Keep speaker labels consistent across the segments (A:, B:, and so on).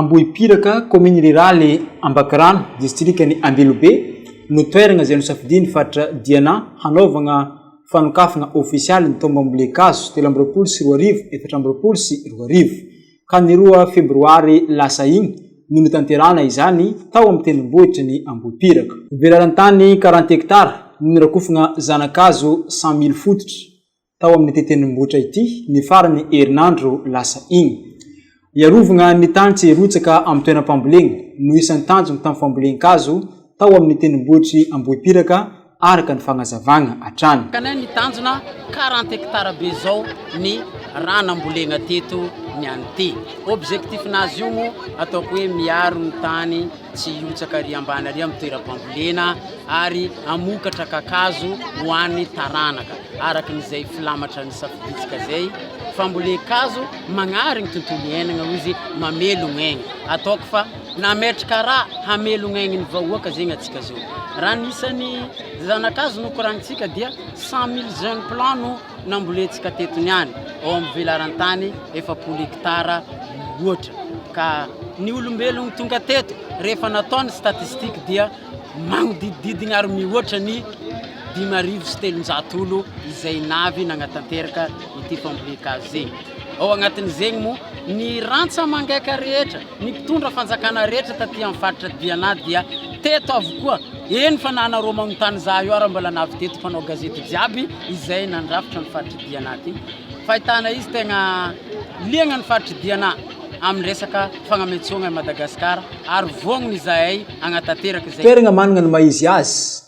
A: Ambohipiraka, kaominina riràly Ambakirano, distrikan'i Ambilobe, no toerana izay nosafidian'ny faritra Diana hanaovana fanokafana ofisialy ny taom bambolen-kazo telo amby roapolo sy roa arivo efatra amby roapolo sy roa arivo, ka ny roa febroary lasa iny no notanterahana izany tao amin'ny tendrombohitry ny Ambohipiraka. Velarantany quarante hectares no norakofana zana-kazo cent mille fototra, tao amin'ity tendrombohitra ity ny faran'ny herinandro lasa iny. Hiarovagna ny tany tsy hirotsaka amin'ny toeram-pambolena no isan'ny tanjony tamin'ny fambolen-kazo tao amin'ny tendrombohitr'i Ambohipiraka araka ny fagnazavagna hatrany. Ka ny tanjona
B: quarante hectares be izao ny raha nambolegna teto ny an'ity. Objectif-nazy io moa ataoko hoe miaro ny tany. Tsy hihotsaka ary ambany ary amin'ny toeram-pambolena ary hamokatra kakazo ho an'ny taranaka, araka izay filamatra nisafidintsika izay, fambolen-kazo magnary ny tontolo iainagna hoy izy, mamelogna aigny. Ataoko fa nametraka raha hamelogna aigny ny vahoaka zegny antsika zao. Raha ny isan'ny zana-kazo nokoragnintsika dia cent mille jeunes plants no Nambolentsika teto niany ao amin'ny velaran-tany efapolo hekitara loatra ka. Ny olombelogno tonga teto rehefa natao ny statistiques dia magnodididigny ary mihoatra ny dimy arivo sy telonjato olo izay navy nagnatanteraka ity fambolen-kazo zey. Ao agnatin'izegny moa ny rantsa mangaika rehetra. Ny mpitondra fanjakana rehetra taty amin'ny faritra Diana dia teto avokoa, eny fa na anao Romamontany Zahayo ary mbola navy teto mpanao gazety jiaby izay nandrafitra ny faritr'i Diana ity. Fahitana izy tegna liagna ny faritr'i Diana amin'ny resaka fagnamentsogna i Madagasikara ary vognony izahay hagnatanteraka izay. Toeragna managna ny maha izy
A: azy.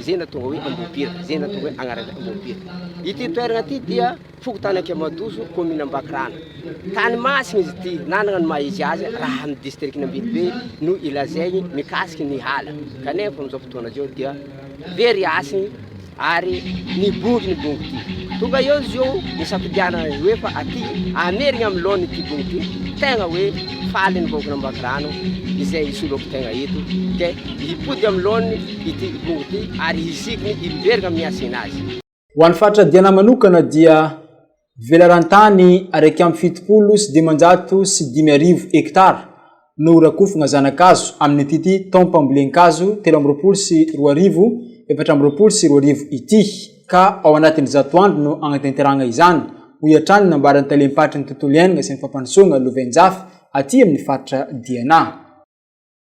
C: izay nahatonga hoe Ambohipira, izay nahatonga hoe agnaran'izay Ambohipira. Ity toeragna ity dia fokontany Ankemadoso, commune Ambakirano. Tany masina izy ity, nanagna ny maha izy azy raha amin'ny district-ny Ambilobe no ilazaigny mikasiky ny hala. Kanefa amin'izao fotoagna izao dia very hasigny ary nibongy ny bongo ity. Tonga eo izy eo nisafidianana ny hoe fa aty amerigny amin'ny laoniny ity bongo ity, tegna hoe faly ny vahoakan'Ambakirano izay hisolo ampy tegna eto, dia hipody amin'ny laoniny. ity Ipong ity ary hisiky ny Imberg amin'ny hasina azy. Ho an'ny faritra
A: Diana manokana dia velaran-tany araika amby fitopolo sy dimanjato sy dimy arivo hekitara no horakofana zana-kazo amin'itity taom-pambolen-kazo telo amby roapolo sy roa arivo efatra amby roapolo sy roa arivo ity ka ao anatin'ny zato andro no hagnatanterahana izany, hoy hatrany ny nambaran'ny talem-paritry ny tontolo iainana sy ny fampandrosoana Lovainjafy aty amin'ny faritra Diana.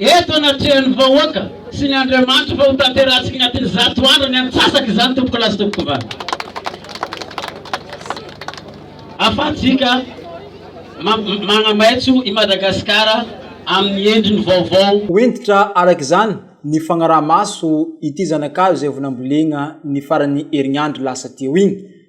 B: Eto anatrehan'ny vahoaka sy ny Andriamanitra fa hotanterahantsika ny atin'ny zato andro ny antsasaka izany tompoko lahy sy tompoko vavy. Afahantsika manamaitso i Madagasikara amin'ny endriny vaovao. Ho hentitra araka
A: izany ny fagnaraha-maso ity zanakavy izay evo nambolena ny faran'ny herinandro lasa teo iny.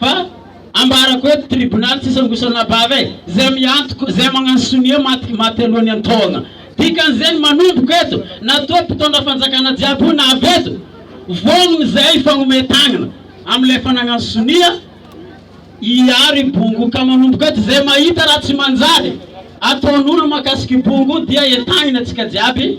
D: Fa ambarako eto tribonaly tsy sangosana bava e! Zay miantoka, zay magnano sonia maty maty aloha ny antohagna. Dikan'izay ny manomboka eto, na toa mpitondra fanjakana jiaby io na avy eto, vognogno zay hifagnomey tagnana amilay efa nagnano sonia hiaro i bongo. Ka manomboka eto zay mahita raha tsy manjary ataon'olo makasika i bongo dia entagniny atsika jiaby.